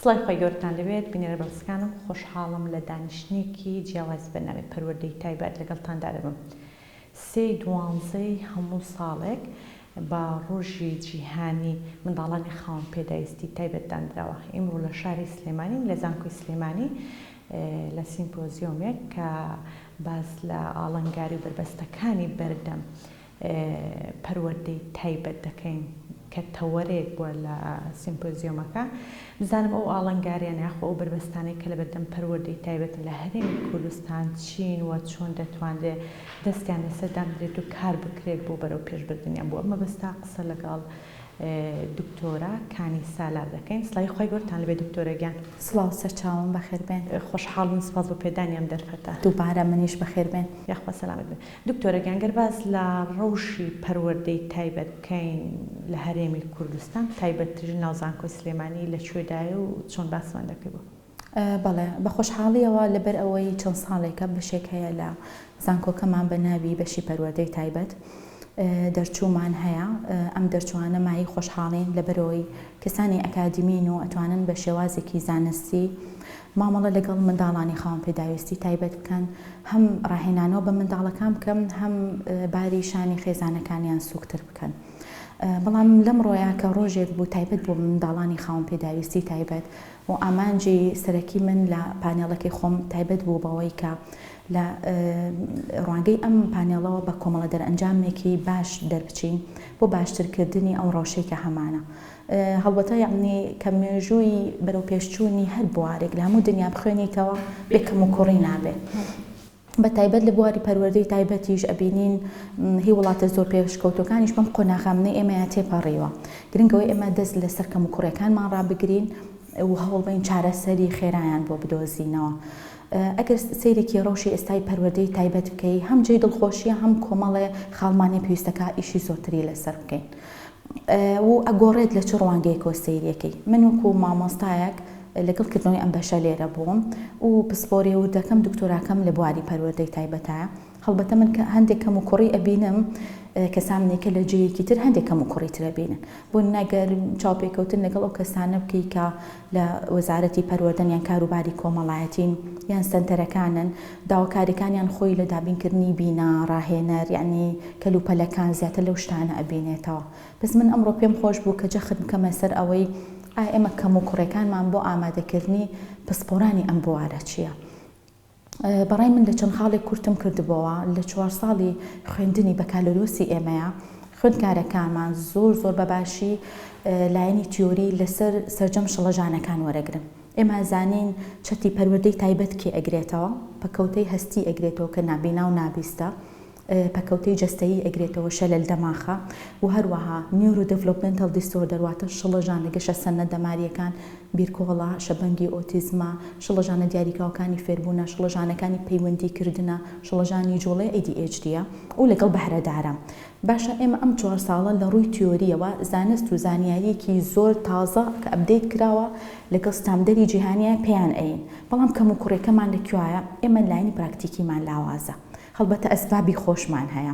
سڵای خوای گەورەتان لەوێت بینەرە بەڕزکانم خۆشحاڵم لە دانیشتنێکی جیاوازی بەرنامەی پەروەردەی تایبەت لەگەڵتاندا دەبم سێی دوانزەی هەموو ساڵێک بە ڕۆژی جیهانی منداڵانی خاوەن پێداویستی تایبەت دانراوە ئیمڕۆ لە شاری سلێمانیم لە زانکۆی سلێمانی لە سیمپۆزیۆمێک کە باس لە ئاڵەنگاری و بەربەستەکانی بەردەم پەروەردەی تایبەت دەکەین کە تەوەرێک بووە لە سیمپۆزیۆمەکە. بزانم ئەو ئاڵنگارییانە یاخۆ ئەو بەربەستانەی کە لەبەردەم پەروەردەی تایبەتن لە هەرێمی کوردستان چین و چۆن دەتوانرێت دەستیان لەسەر دانرێت و کار بکرێت بۆ بەرەوپێشبردنیان؟ بۆ ئەم مەبەستە قسە لەگەڵ دکتۆرە کانی سالار دەکەین. سڵاوی خوای گەورەتان لەبێت دکتۆرە گیان. سڵاو سەرچاوم بەخێربێن. خۆشحاڵین سپاس بۆ پێدانی ئەم دەرفەتە. دووبارە منیش بەخێربێن. یاخوا سەلامەت بن. دکتۆرە گیان گەر باس لە ڕەوشی پەروەردەی تایبەت بکەین لە هەرێمی کوردستان تایبەت ترین ناو زانکۆی سلێمانی لە کوێدایە و چۆن باسمان دەکەی بۆ. بەڵێ بە خۆشحاڵیەوە لەبەر ئەوەی چەند ساڵێکە بەشێک هەیە لە زانکۆکەمان بە ناوی بەشی پەروەردەی تایبەت دەرچوومان هەیە ئەم دەرچوانە مایەی خۆشحاڵین لەبەرەوەی کەسانی ئەکادیمین و ئەتوانن بە شێوازێکی زانستی مامەڵە لەگەڵ منداڵانی خاوەن پێداویستی تایبەت بکەن، هەم ڕاهێنانەوە بە منداڵەکان بکەن، هەم باری شانی خێزانەکانیان سووکتر بکەن. بەڵام لەمڕۆیە کە ڕۆژێک بوو تایبەت بۆ منداڵانی خاوەن پێداویستی تایبەت و ئامانجی سەرەکی من لە پانێڵەکەی خۆم تایبەت بوو بەوەی کە لە ڕوانگەی ئەم پانێڵەوە بە کۆمەڵە دەرئەنجامێکی باش دەربچین بۆ باشترکردنی ئەو ڕەوشەی کە هەمانە. هەڵبەتە یەعنی کە مێژووی بەرەوپێشچوونی هەر بوارێک لە هەموو دنیا بخوێنیتەوە بێ کەموکوڕی نابێ. بە تایبەت لە بواری پەروەردەی تایبەتیش ئەبینین هی وڵاتە زۆر پێشکەوتووەکانیش بەم قۆناغامنەی ئێمەیان تێپەڕیوە. گرنگە ئەوەی ئێمە دەست لەسەر کەموکوڕیەکانمان ڕابگرین و هەوڵبەین چارەسەری خێرایان بۆ بدۆزینەوە. ئەگەر سەیرێکی ڕەوشی ئێستای پەروەردەی تایبەت بکەی هەم جێی دڵخۆشیە هەم کۆمەڵێ خاڵمانێ پێویستەکا ئیشی زۆرتری لەسەر بکەین. و ئەگۆڕێت لە چ ڕوانگەیەکەوە سەیرێکەی من وەکو مامۆستایەک لەگەڵ کردنەوەی ئەم بەشە لێرە بووم و پسپۆریە وردەکەم دکتۆراکەم لە بواری پەروەردەی تایبەتە هەڵبەتە من کە هەندێک کەم و کوڕی ئەبینم کەسانێک کە لە جێیەکی تر هەندێک کەم و کوڕی ترە بینن بۆ نەگەر چاوپێکەوتن لەگەڵ ئەو کەسانە بکەی کە لە وەزارەتی پەروەردەن یان کاروباری کۆمەڵایەتین یان سەنتەرەکانن داواکاریەکانیان خۆی لە دابینکردنی بینا، ڕاهێنەر، یەعنی کەلوپەلەکان زیاتر لەو شتانە ئەبینێتەوە بەس من ئەمڕۆ پێم خۆش بوو کە جەخت بکەمە سەر ئەوەی ئایا ئێمە کەموکوڕێکانمان بۆ ئامادەکردنی پسپۆرانی ئەم بوارە چیە؟ بەڕای من لە چەند خاڵێک کورتم کردبۆوە لە چوار ساڵی خوێندنی بەکالۆریۆسی ئێمەیە خوێندکارەکانمان زۆر زۆر بەباشی لایەنی تیۆری لەسەر سەرجەم شڵەژانەکان وەرەگرن ئێمە زانین چەتی پەروەردەی تایبەت کێ ئەگرێتەوە پەکەوتەی هەستی ئەگرێتەوە کە نابینا و نابیستە پەکەوتەی جەستەیی ئەگرێتەوە، شەلەل دەماخە و هەروەها Neurodevelopmental Disorder واتە شڵەژانە گەشەسەندنە دەمارییەکان، بیرکۆڵە، شەبەنگی ئۆتیزمە، شڵەژانە دیاریکراوەکانی فێربوونە، شڵەژانەکانی پەیوەندیکردنە، شڵەژانی جوڵەی ADHD ە و لەگەڵ بەهرەدارە. باشە ئێمە ئەم چوار ساڵە لە ڕووی تیۆرییەوە زانست و زانیارییەکی زۆر تازە کە ئەپدەیت کراوە لەگەڵ ستامدەری جیهانییە پێیان ئەیین بەڵام کەموکوڕیەکەمان لە کوایە؟ ئێمە لایەنی پراکتیکیمان لاوازە. هەڵبەتە ئەسبابی خۆشمان هەیە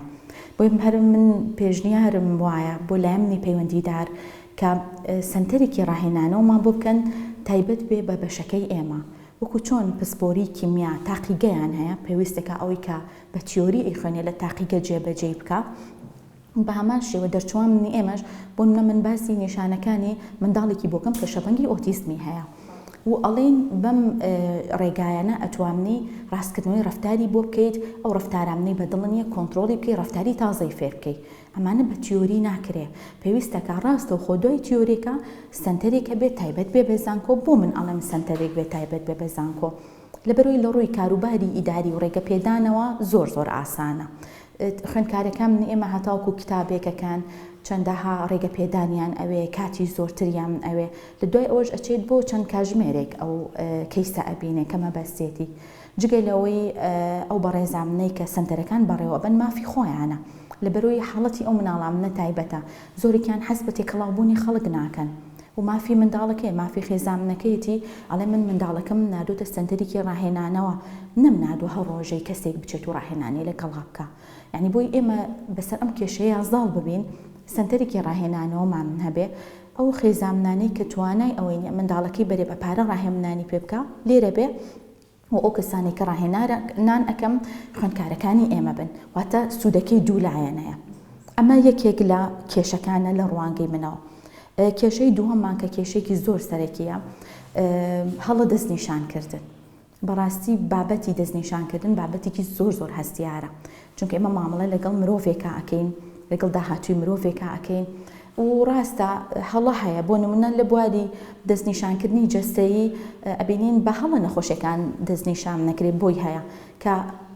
بۆی هەر من پێشنیارم وایە بۆ لایەنی پەیوەندیدار کە سەنتەرێکی ڕاهێنانەوەمان بۆ بکەن تایبەت بێ بە بەشەکەی ئێمە وەکو چۆن پسپۆری کیمیا تاقیگەیان هەیە پێویستەکە ئەوەی کە بە تیۆری ئەیخوێنێ لە تاقیگە جێبەجێی بکا بەهەمان شێوە دەرچوانی ئێمەش، بۆ نمونە من باسی نیشانەکانی منداڵێکی بۆکەم کە شەپەنگی ئۆتیزمی هەیە و ئەڵێین بەم ڕێگایانە ئەتوامنی ڕاستکردنەوەی ڕەفتاری بۆ بکەیت، ئەو ڕەفتارامنەی بە دڵ نیە کۆنترۆڵی بکەی ڕەفتاری تازەی فێر بکەی، ئەمانە بە تیۆری ناکرێ پێویستەکە ڕاستەوخۆ دوای تیۆرێکە سەنتەرێکە بێت تایبەت بێ بە زانکۆ، بۆ من ئەڵێم سەنتەرێک بێت تایبەت بێ بە زانکۆ؟ لەبەرئەوەی لەڕووی کاروباری ئیداری و ڕێگەپێدانەوە زۆر زۆر ئاسانە خوێندکارەکان ئێمە هەتاوەکو کتابێکەکەن چەندەها ڕێگەپێدانیان ئەوێ کاتی زۆرتریان ئەوێ لە دوای ئەوەش ئەچێت بۆ چەند کاژمێرێک ئەو کەیسە ئەبینێ کە مەبەستێتی جگە لەوەی ئەو بەڕێزامنەی کە سەنتەرەکان بەڕێوەبەن مافی خۆیانە لەبەرۆی حاڵەتی ئەو مناڵامنە تایبەتە زۆرێکیان حەز بە تێکەڵاو بوونی خەڵک ناکەن و مافی منداڵەکەیە مافی خێزامنەکەیەتی ئەڵێ من منداڵەکەمم ناردۆتە سەنتەریکی ڕاهێنانەوە نەم ناردوە هەر ڕۆژەی کەسێک بچێت و ڕاهێنانی لە گەڵا بکا یانی بۆی ئێمە بەسەر ئەم کێشەیە زاڵ ببین سەنتەریکی ڕاهێنانەوە مان هەبێ ئەو خێزامنانەی کە توانای ئەوەی نیە منداڵەکەی بەرێ بە پارە ڕاهێمنانی پێ بکا لێرە بێ و ئەو کەسانەی کە ڕاهێنان ئەکەم خوێندکارەکانی ئێمە بن واتە سوودەکەی دوو لایەنەیە ئەمە یەکێک لە کێشەکانە لە ڕوانگەی منەوە کێشەی دووەممان کە کێشێکی زۆر سەرەکیە هەڵە دەستنیشانکردن بەڕاستی بابەتی دەستنیشانکردن بابەتێکی زۆر زۆر هەستیارە چونکە ئێمە مامەڵە لەگەڵ مرۆڤێکا ئەکەین لەگەڵ داهاتووی مرۆڤێکا ئەکەین و ڕاستە هەڵە هەیە بۆ نمونە لە بواری دەستنیشانکردنی جەستەیی ئەبینین بە هەڵە نەخۆشەکان دەستنیشان نەکرێت بۆی هەیە کە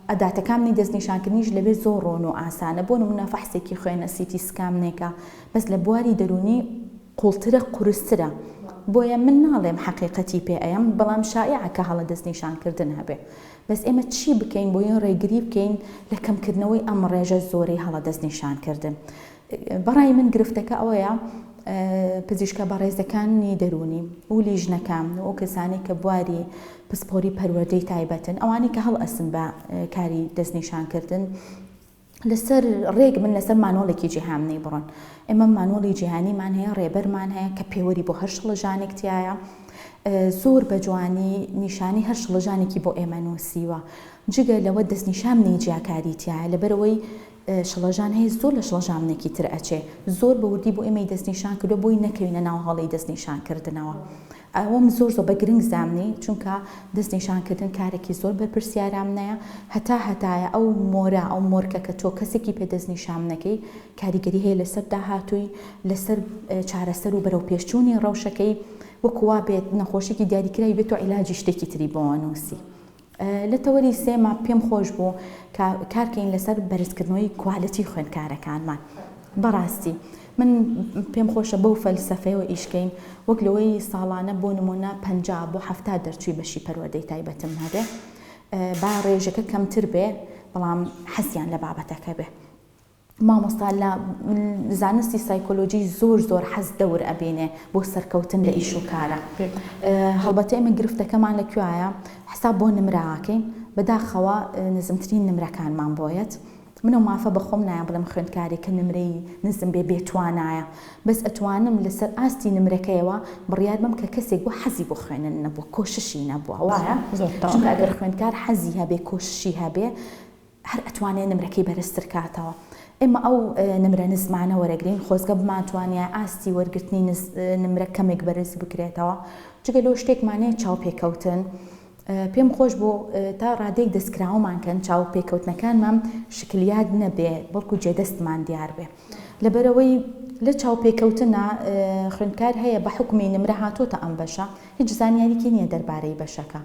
ئەداتەکانی دەستنیشانکردنیش لەوێ زۆر ڕۆن و ئاسانە بۆ نمونە فەحسێکی خوێنە سیتی سکامنێکە بەس لە بواری دەرونی قوڵترە قورسترە بۆیە من ناڵێم حەقیقەتی پێ ئەیەم بەڵام شایعە کە هەڵە دەست نیشان کردن هەبێ بەس ئێمە چی بکەین بۆیە ڕێگری بکەین لە کەم کردنەوەی ئەم ڕێژە زۆرەی هەڵە دەست نیشان کردن بەڕای من گرفتەکە ئەوەیە پزیشکە بەڕێزەکانی دەرونی و لیژنەکان و ئەو کەسانی کە بواری پسپۆری پەروەردەی تایبەتن ئەوانی کە هەڵ ئەسن بە کاری دەستنیشانکردن لەسەر ڕێک بن لەسەر مانۆڵێکی جیهامنی بڕۆن ئێمە مانۆڵی جیهانیمان هەیە ڕێبەرمان هەیە کە پێوەری بۆ هەر شڵەژانێک تایە زۆر بە جوانی نیشانی هەر شڵەژانێکی بۆ ئێمە نووسیوە جگە لەوە دەستنیشامنی جیاکاری تایە لەبەرەوەی شڵەژان هەیە زۆر لە شڵەژامنێکی تر ئەچێ زۆر بە وردی بۆ ئێمەی دەستنیشان کردو بۆی نەکەوینە ناو هەڵی دەستنیشان کردنەوە ئەوەم زۆر زۆر بە گرنگ زامنی چونکە دەست نیشان کردن کارێکی زۆر بەرپرسیارامنەیە هەتا هەتایە ئەو مۆرە ئەو مۆرکە کە تۆ کەسێکی پێ دەست نیشامنەکەی کاریگەری هەیە لەسەر داهاتووی لەسەر چارەسەر و بەرەو پێشچوونی ڕەوشەکەی وەکو وابێت نەخۆشێکی دیاریکراوی بێت تۆ عیلاجی شتێکی تری بۆوە نووسی لە تەوەری سێما پێم خۆش بوو کە کار کەین لەسەر بەرزکردنەوەی کوالێتی خوێندکارەکانمان. بەڕاستی من پێم خۆشە بەو فەلسەفەیەوە ئیش کەین وەک لەوەی ساڵانە بۆ نموونە پەنجا بۆ حەفتا دەرچووی بەشی پەروەردەی تایبەتم هەبێ با ڕێژەکە کەمتر بێ بەڵام حەزیان لە بابەتەکە بێ. مامۆستا لە زانستی سایکۆلۆجی زۆر زۆر حەز دەور ئەبینێ بۆ سەرکەوتن لە ئیش و کارا هەڵبەتە ئێمە گرفتەکەمان لە کوێیە حساب بۆ نمرە ئاکەین بەداخەوە نزمترین نمرەکانمان بۆ یەت من ئەو مافە بە خۆم نایەم بڵێم خوێندکارێک کە نمرەی نزم بێ بێ توانایە بەس ئەتوانم لەسەر ئاستی نمرەکەیەوە بڕیار بەم کە کەسێک بۆ حەزی بۆ خوێنن نەبوو کۆششی نەبووە وایە چونکە ئەگەر خوێندکار حەزی هەبێ کۆششی هەبێ هەر ئەتوانێ نمرەکەی بەرزتر کاتەوە ئێمە ئەو نمرە نزمانە وەرەگرین خۆزگە بمانتوانیایە ئاستی وەرگرتنی نمرە کەمێک بەرز بکرێتەوە جگە لەو شتێکمان نیە چاوپێکەوتن پێم خۆش بۆ تا ڕادێک دەستکراوەمان کەن چاو پێکەوتنەکانمان شکلیات نەبێ بەڵکو جێدەستمان دیار بێ لەبەرەوەی لە چاوپێکەوتنە خوێندکار هەیە بە حکومی نمرە هاتۆتە ئەم بەشە هیچ زانیاریکی نییە دەربارەی بەشەکە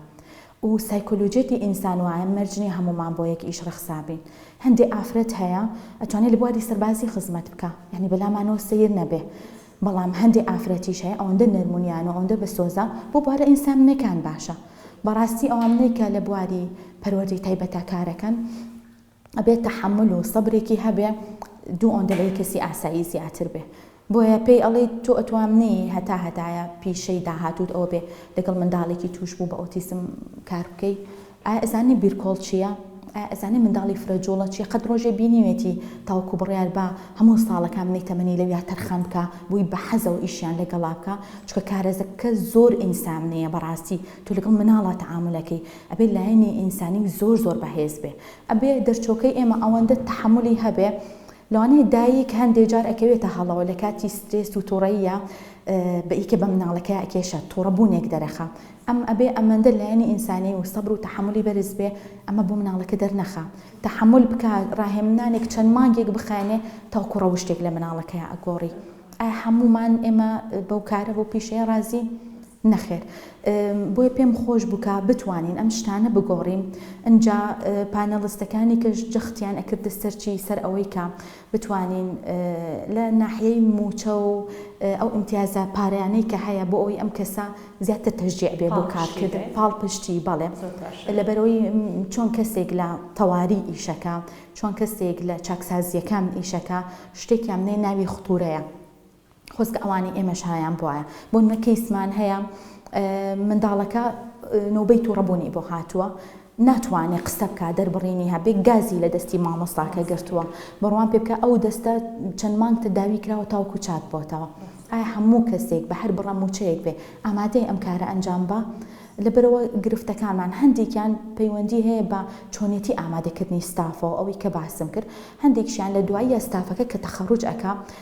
و سایکۆلۆژیەتی ئینسان وایە مەرج نیە هەموومان بۆ یەک ئیش ڕەخسا بین هەندێ ئافرەت هەیە ئەتوانێ لە بواری سەربازی خزمەت بکا یانی بە لامانەوە سەیر نەبێ بەڵام هەندێ ئافرەتیش هەیە ئەوەندە نەرم و نیان و ئەوەندە بەسۆزە بۆ بوارە ئینساننەکان باشە بەڕاستی ئەوانەی کە لە بواری پەروەردەی تایبەتە کارەکەن ئەبێ تەحەمول و سەبرێکی هەبێ دوو ئۆندە لەی کەسی ئاسایی زیاتر بێ بۆیە پێی ئەڵی تۆ ئەتوام نی هەتا هەتایە پیشەی داهاتوت ئەوە بێ لەگەڵ منداڵێکی توش بوو بە ئۆتیسم کار بکەی ئایا ئەزانی بیرکۆڵ چییە؟ ئایا ئەزانی منداڵی فرە جوڵە چییە قەت ڕۆژێ بینیوێتی تاوەکو بڕیار با هەموو ساڵەکان منەی تەمەنی لەویا تەرخان بکا بووی بە حەزە و ئیشیان لەگەڵا بکا چکە کارەزەکە زۆر ئینسامنەیە بەڕاستی تۆ لەگەڵ مناڵە تەعامولەکەی ئەبێ لایەنی ئینسانی زۆر زۆر بەهێز بێ ئەبێ دەرچۆکەی ئێمە ئەوەندە تەحەمولی هەبێ لەوانەیە دایک هەندێ جار ئەکەوێتە هەڵەوە لە کاتی سترێس و توڕەییە بەیکە بە مناڵەکەی ئەکێشە توڕە بوونێک دەرەخە ئەم ئەبێ ئەمەندە لایەنی ئینسانی و سەبر و تەحەمولی بەرز بێ ئەمە بۆ مناڵەکە دەرنەخا تەحەمول بکا ڕاهێمنانێک چەند مانگێک بخایەنێ تاوکو ڕەوشتێک لە مناڵەکەیا ئەگۆڕی ئایا هەموومان ئێمە بەو کارە بەو پیشەیە ڕازین؟ نەخێر بۆیە پێم خۆش بوو کە بتوانین ئەم شتانە بگۆڕین ئنجا پانێڵستەکانی کەش جەختیان ئەکردە سەرچی سەر ئەوەی کە بتوانین لە ناحیەی موچە و ئەو ئیمتیازە پارەیانەی کە هەیە بۆ ئەوی ئەم کەسە زیاتر تەشجیع بێ بۆ کارکرد پاڵ پشتی بەڵێ لەبەرەوەی چۆن کەسێک لە تەواری ئیشەکە چۆن کەسێک لە چاکسازیەکان ئیشەکە شتێکیان نێ ناوی خطورەیە خۆزگە ئەوانەی ئێمە شایان بوایە بۆنمونە کەیسمان هەیە منداڵەکە نۆبەی توڕە بوونی بۆ هاتووە ناتوانێت قسە بکە دەربڕینی هەبێ گازی لە دەستی مامۆستاکە گرتووە بڕوان پێ بکە ئەو دەستە چەند مانگتە داوی کراوە تاوکو چاک بۆتەوە ئایا هەموو کەسێک بە هەر بڕە موچەیەک بێ ئامادەی ئەم کارە ئەنجام بە لەبەرەوە گرفتەکانمان هەندێکیان پەیوەندی هەیە بە چۆنێتی ئامادەکردنی ستافەوە ئەوەی کە باسم کرد هەندێکشیان لە دواییە ستافەکە کە تەخەڕوج ئەک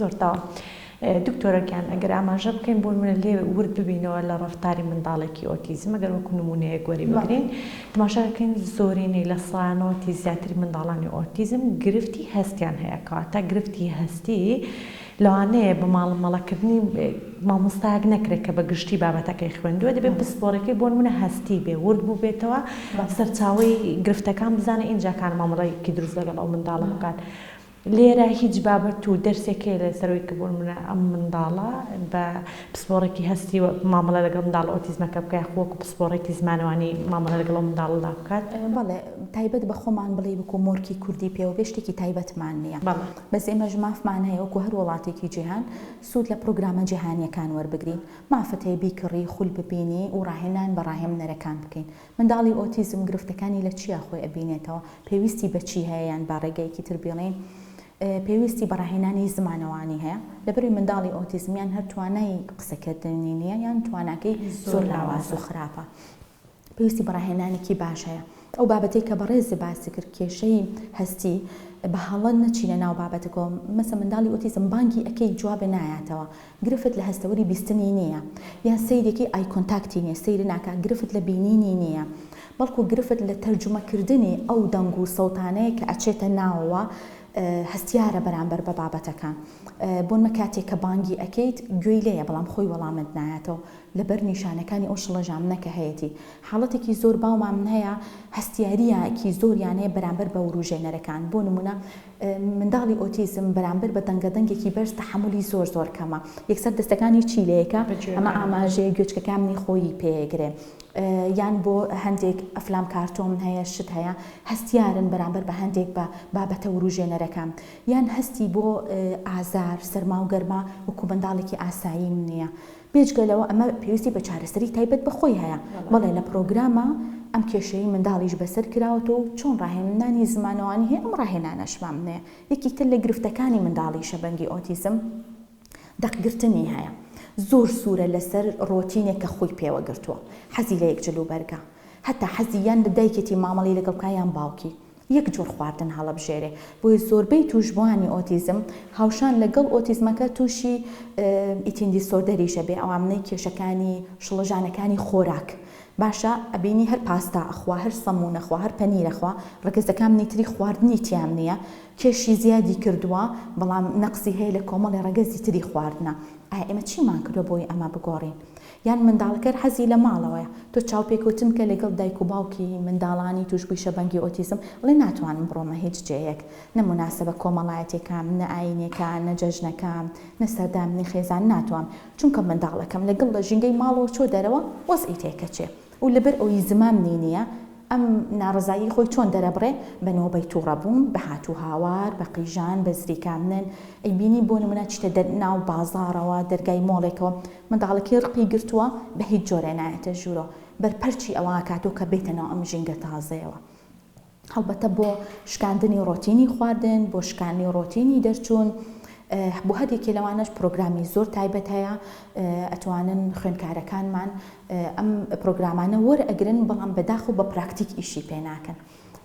زۆر تاوە دکتۆرە گیان ئەگەر ئاماژە بکەین بۆ نمونە لێ ورد ببینەوە لە ڕەفتاری منداڵێکی ئۆتیزم ئەگەر وەکو نمونەیەک وەری بگرین تماشا دەکەین زۆرینەی لە سەدا نەوەتی زیاتری منداڵانی ئۆتیزم گرفتی هەستیان هەیە کەواتە گرفتی هەستی لەوانەیە بە ماڵمەڵەکردنی مامۆستایەک نەکرێت کە بە گشتی بابەتەکەی خوێندووە دەبێت پسپۆڕەکەی بۆ نمونە هەستی بێ ورد بوو بێتەوە سەرچاوی گرفتەکان بزانە ئینجاکان مامەڵەیەکی دروست لەگەڵ ئەو منداڵە بکات. لێرە هیچ بابەت و دەرسێک هەیە لە سەرووی کبوون ئەم منداڵە بە پسپۆڕێکی هەستی و مامەڵە لەگەڵ منداڵە ئۆتیزمەکە بکە یاخو وەکو پسپۆڕێکی زمانەوانی مامەڵە لەگەڵ ئەو منداڵەدا بکات؟ بەڵێ تایبەت بە خۆمان بڵێی وەکو مۆرکی کوردی پێوە بێ شتێکی تایبەتمان نییە بەڵێ. بەس ئێمەش مافمان هەیە وەکو هەر وڵاتێکی جیهان سوود لە پڕۆگرامە جیهانییەکان وەربگرین مافت هەیە بیکڕی خول ببینی و ڕاهێنان بە ڕاهێمنەرەکان بکەین منداڵی ئۆتیزم گرفتەکانی لە چیا خۆی ئەبینێتەوە؟ پێویستی بە چی هەیە یان با ڕێگەیەکی تر بیڵێین پێویستی بە ڕاهێنانی زمانەوانی هەیە لەبەروی منداڵی ئۆتیزم یان هەر توانای قسەکردنی نییە یان تواناکەی زۆر لاواز و خراپە پێویستی بە ڕاهێنانێکی باش هەیە ئەو بابەتەی کە بەڕێزی باسی کرد کێشەی هەستی بە هەڵە نەچینە ناو بابەتەکەوە مەسە منداڵی ئۆتیزم بانگی ئەکەی جوابێ نایاتەوە گرفت لە هەستەوەری بیستنی نییە یان سەیرێکی ئای کۆنتاکتی نییە، سەیری ناکات، گرفت لە بینینی نییە، بەڵکو گرفت لە تەرجومەکردنی ئەو دەنگ و سەوتانەیە کە ئەچێتە ناوەوە، هەستیارە بەرامبەر بە بابەتەکە، بۆ نمە کاتێک کە بانگی ئەکەیت گوێی لێیە بەڵام خۆی وەڵامت نایاتەوە لەبەر نیشانەکانی ئەو شڵەژامنە کە هەیەتی، حاڵەتێکی زۆر باومامن هەیە هەستیارییەکی زۆریان هەیە بەرامبەر بە وروژێنەرەکان، بۆ نمونە، منداڵی ئۆتیزم بەرامبەر بە دەنگە دەنگێکی بەرز تەحەمولی زۆر زۆر کەمە یەکسەر دەستەکانی چی لەیەکە ئەمە ئاماژەیە گوێچکەکان منی خۆیی پێگرێ یان بۆ هەندێک ئەفلام کارتۆم هەیە شت هەیە هەستیارن بەرامبەر بە هەندێک بە بابەتە وروژێنەرەکان یان هەستی بۆ ئازار سەرما و گەرما وەکو منداڵێکی ئاسایی نیە بێجگە لەوە ئەمە پێویستی بە چارەسەری تایبەت بە خۆی هەیە، بەڵێ لە پرۆگرامە ئەم کێشەی منداڵیش بەسەر کراوەتەوە و چۆن ڕاهێنانی زمانەوانی هەیە ئەم ڕاهێنانەش مامنەیە یەکی تر لە گرفتەکانی منداڵی شەبەنگی ئۆتیزم دەق گرتنی هەیە زۆر سورە لەسەر ڕۆتینێک کە خۆی پێوە گرتووە حەزی لە یەک جلوبەرگە هەتا حەزی یان لە دایکێتی مامەڵەی لەگەڵ بکا یان باوکی. یەک جۆر خواردن هەڵەبژێرێ بۆیە زۆربەی توشبوانی ئۆتیزم هاوشان لە گەڵ ئۆتیزمەکە توشی ئیتین دیسۆردەریش ئەبێ ئەوامنەی کێشەکانی شڵەژانەکانی خۆراک باشە ئەبینی هەر پاستا ئەخوا هەر سەمون ئەخوا هەر پەنیر ئەخوا ڕەگەزە کامنی تری خواردنی تیام نیە کێشی زیادی کردوە بەڵام نەقسی هەیە لە کۆمەڵێ ڕەگەزی تری خواردنە ئایە ئێمە چیمان کردوە بۆی ئەمە بگۆڕین یان منداڵەکەر حەزی لە ماڵەوەیە تۆ چاوپێکەوتن بکە لەگەڵ دایک و باوکی منداڵانی توشبوی شەبەنگی ئۆتیزم بڵێ ناتوانم بڕۆمە هیچ جێیەک نە موناسەبە کۆمەڵایەتێکام نە ئاینێکا نە جەژنەکام نە سەردامنی خێزان ناتوام چونکە منداڵەکەم لەگڵ لە ژینگەی ماڵەوە چۆ دەرەوە وەزعی تێکەچێ و لەبەر ئەوەی زمامنی نییە ئەم ناڕەزایی خۆی چۆن دەرەبڕێ بە نۆبەی توڕە بوون، بە هات و هاوار، بە قیژان، بە زریکاندن، ئەیبینی بۆ نموونە چیتە دەر ناو بازاڕەوە، دەرگای مۆڵێکەوە منداڵەکی ڕقی گرتووە بە هیچ جۆرێ نایەتە ژوورۆ، بەرپەرچی ئەوە ئەکاتۆ کە بێتە ناو ئەم ژینگە تازەیەوە. هەڵبەتە بۆ شکاندنی ڕۆتینی خواردن، بۆ شکانی ڕۆتینی دەرچوون، بۆ هەر یەکێ لەوانەش پرۆگرامی زۆر تایبەت هەیە، ئەتوانن خوێندکارەکانمان ئەم پرۆگرامانە وەرئەگرن بەڵام بە داخ و بە پراکتیک ئیشی پێ ناکەن.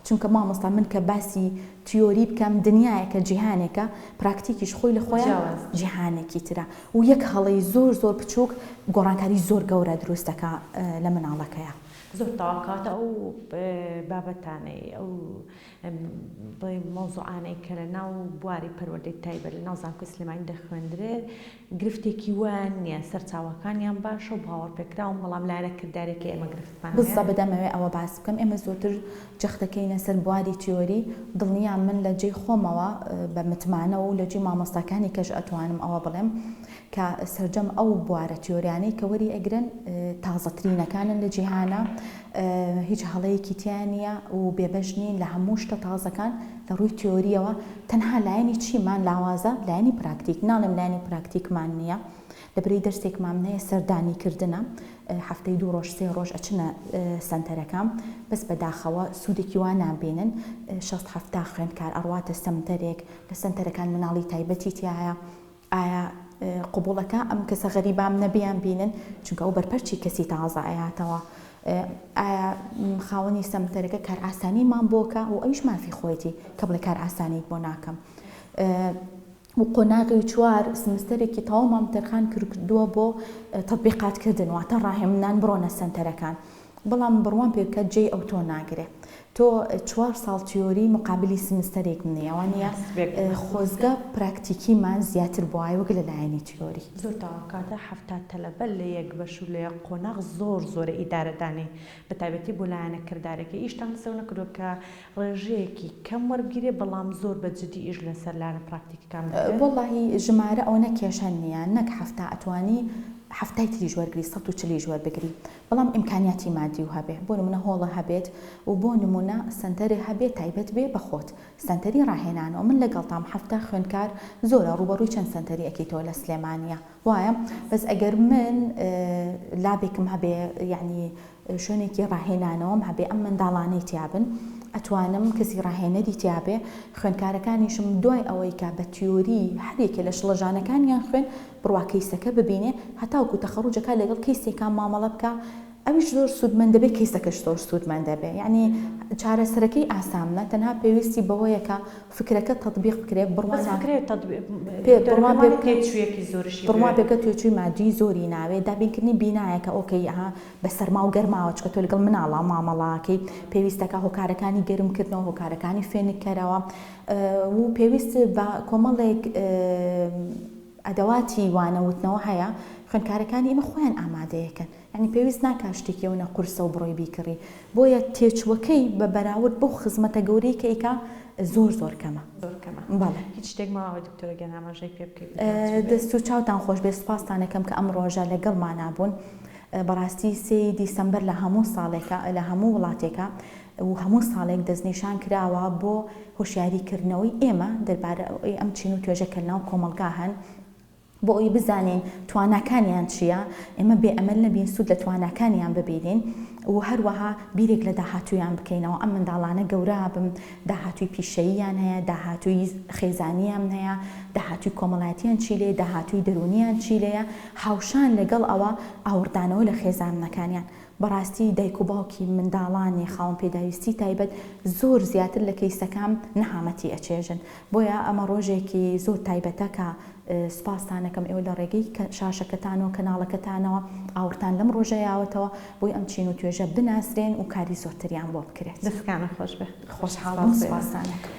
چونکە مامۆستا من کە باسی تیۆری بکەم دنیایەکە جیهانێکە، پراکتیکیش خۆی لە خۆیان جیاوازە. جیهانێکی ترە و یەک هەڵەی زۆر زۆر بچووک گۆڕانکاری زۆر گەورە دروست دەکا لە مناڵەکەیا. زۆر تاقاتە ئەو بابەتانەی ئەو بڵێم مەوزوعانەی کە لە ناو بواری پەروەردەی تایبەت لە ناو زانکۆی سلێمانی دەخوێندرێت گرفتێکی وان نییە سەرچاوەکانیان باشە و باوەڕپێکراون بەڵام لایەنە کردارێکی ئێمە گرفتمان هەیە. بزە بدەمەوێ ئەوە باس بکەم ئێمە زۆرتر جەختەکەینە سەر بواری تیۆری دڵنیام من لە جێی خۆمەوە بە متمانە و لە جێی مامۆستاکانی کەش ئەتوانم ئەوە بڵێم کە سەرجەم ئەو بوارە تیۆریانەی کە وەری ئەگرن تازەترینەکانن لە جیهانا هیچ هەڵەیەکی تیا نیە و بێبەش نین لە هەموو شتە تازەکان لە ڕووی تیۆریەوە تەنها لایەنی چیمان لاوازە لایەنی پراکتیک ناڵێم لایەنی پراکتیکمان نیە لە برەی دەرسێکمام نەیە سەردانی کردنە هەفتەی دوو ڕۆژ سێ ڕۆژ ئەچنە سەنتەرەکان بەس بەداخەوە سوودێکی وا نابینن شەست هەفتا خوێندکار ئەڕواتە سەمتەرێک لە سەنتەرەکان مناڵی تایبەتی تایە ئایا قبوڵەکە ئەم کەسە غەریبامنە بیان بینن چونکە ئەو بەرپەرچی کەسی تازە ئەیاتەوە ئایا خاوەنی سەمتەرەکە کارئاسانی مان بۆکە و ئەویش مافی خۆیتی کە بڵێ کارئاسانیت بۆ ناکەم و قۆناغی و چوار سمستەرێکی تەواومان تەرخان کردووە بۆ تطبیقات کردن واتە ڕاهێمنان بڕۆنە سەنتەرەکان بەڵام بڕوام پێ بکە جێی ئەو تۆ ناگرێ تۆ چوار ساڵ تیۆری مقابلی سمستەرێک منی ئەوە نیە خۆزگە پراکتیکی مان زیاتر بوایە وەک لە لایەنی تیۆری. زۆر داوا کاتە حەفتا تەلەبە لە یەک بەش و لە یەک قۆناغ زۆر زۆرە ئیدارە دانێی بە تایبەتی بۆ لایەنە کردارەکەی ئیشتان لەسەر ئەوە نەکردوە کە ڕێژەیەکی کەم وەربگیرێ بەڵام زۆر بە جدی ئیش لەسەر لایەنە پراکتیکەکان بکرێ. وەڵاهی ژمارە ئەوەنە کێشە نیە نەک حەفتا ئەتوانی حەفتای تریش وەرگری سەد و چلیش وەربگری بەڵام ئیمکانیاتی مادی و هەبێ بۆ نمونە هۆڵە هەبێت و بۆ نمونە سەنتەرێ هەبێ تایبەت بێ بە خۆت سەنتەری ڕاهێنانەوە من لەگەڵتام حەفتا خوێندکار زۆرە ڕووبەڕووی چەند سەنتەری ئەکەیتەوە لە سلێمانیە وایە بەس ئەگەر من لابێکم هەبێ یەعنی شوێنێکی ڕاهێنانەوەم هەبێ ئەم منداڵانەی تیابن ئەتوانم کەسی ڕاهێنەری تیابێ خوێندکارەکانیشم دوای ئەوەی کە بە تیۆری هەریەکێ لە شڵەژانەکانیان خوێن بڕوا کەیسەکە ببینێ هەتاوکو تەخەڕوجە کا لەگەڵ کەی سێکا مامەڵە بکا ئەویش زۆر سود مەندە بێ کەیسەکەش زۆر سود مەندە بێ یەعنی چارەسەرەکەی ئاسامنە تەنها پێویستی بەوەیە کە فکرەکە تەتبیق بکرێ بڕوا بەس فکرە تەتبیق پێ دکتۆرە بڕوا پێ پێمانێ بکە تێچویەکی زۆرشی بڕوا پێ بوێت. بکە توێچوی مادی زۆری ناوێ دابین کردنی بینایەکە ئۆکەی ئەها بە سەرماو گەرماوە چکە تۆ لەگەڵ مناڵا مامەڵاکەی پێویستە کا هۆکارەکانی گەرم کردنەوە هۆکارەکانی فێنک کەرەوە و پێویست بە کۆمەڵێک ئەدەواتی وانە وتنەوە هەیە خوێندکارەکانی ئێمە خۆیان ئامادەیەکەن یانی پێویست ناکا شتێکی ئەونە قورسە و بڕۆی بیکڕی بۆیە تێچوەکەی بە بەراورد بەو خزمەتە گەورەی کە ئیکا زۆر زۆر کەمە زۆر کەمە بەڵێ هیچ شتێک ماوە دکتۆرە گیان ئاماژەی پێ بکەی دەست و چاوتان خۆش بێ سوپاستان ئەکەم کە ئەم ڕۆژە لەگەڵ مانا بوون بەڕاستی سێی دیسەمبەر لە هەموو ساڵێکە لە هەموو وڵاتێکە و هەموو ساڵێک دەستنیشان کراوە بۆ هۆشیاری کردنەوەی ئێمە دەربارەی ئەم چین و توێژە کە لەناو کۆمەڵگا هەن بۆ ئەوەی بزانین تواناکانیان چییە، ئێمە بێ ئەمەل نەبین سوود لە تواناکانیان ببینین و هەروەها بیرێک لە داهاتوویان بکەینەوە، ئەم منداڵانە گەورە بن داهاتووی پیشەییان هەیە، داهاتووی خێزانیان هەیە، داهاتووی کۆمەڵایەتیان چی لێیە، داهاتووی دەروونیان چی لێیە، هاوشان لەگەڵ ئەوە ئاوڕدانەوە لە خێزانەکانیان. بەڕاستی دایک و باوکی منداڵانی خاوەن پێداویستی تایبەت زۆر زیاتر لە کەیسەکام نەهامەتی ئەچێژن بۆیە ئەمە ڕۆژێکی زۆر تایبەتە کە سوپاستان ئەکەم ئێوە لە ڕێگەی شاشەکەتان و کەناڵەکەتانەوە ئاوڕتان لەم ڕۆژە یاوەتەوە بۆی ئەم چین و توێژە بناسرێن و کاری زۆرتریان بۆ بکرێت. دەستەکانت خۆش بێت. خۆشحاڵ بووم سوپاستان ئەکەم.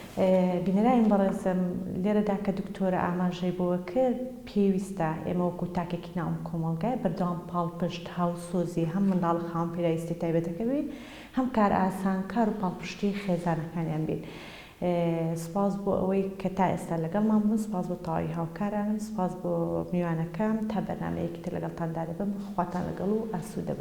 بینەرانی بەڕێزم لێرەدا کە دکتۆرە ئاماژەی بەوە کرد، پێویستە ئێمە وەکو تاکێکی ناو ئەم کۆمەڵگایە بەردەوام پاڵپشت، هاوسۆزی هەم منداڵە خاوەن پێداویستیە تایبەتەکە بین، هەم کارئاسانکار و پاڵپشتی خێزانەکانیان بین. سوپاس بۆ ئەوەی کە تا ئێستا لەگەڵمان بوون، سوپاس بۆ تەواوی هاوکارانم، سوپاس بۆ میوانەکەم، تا بەرنامەیەکی تر لەگەڵتاندا دەبم، خواتان لەگەڵ و ئاسوودە بن.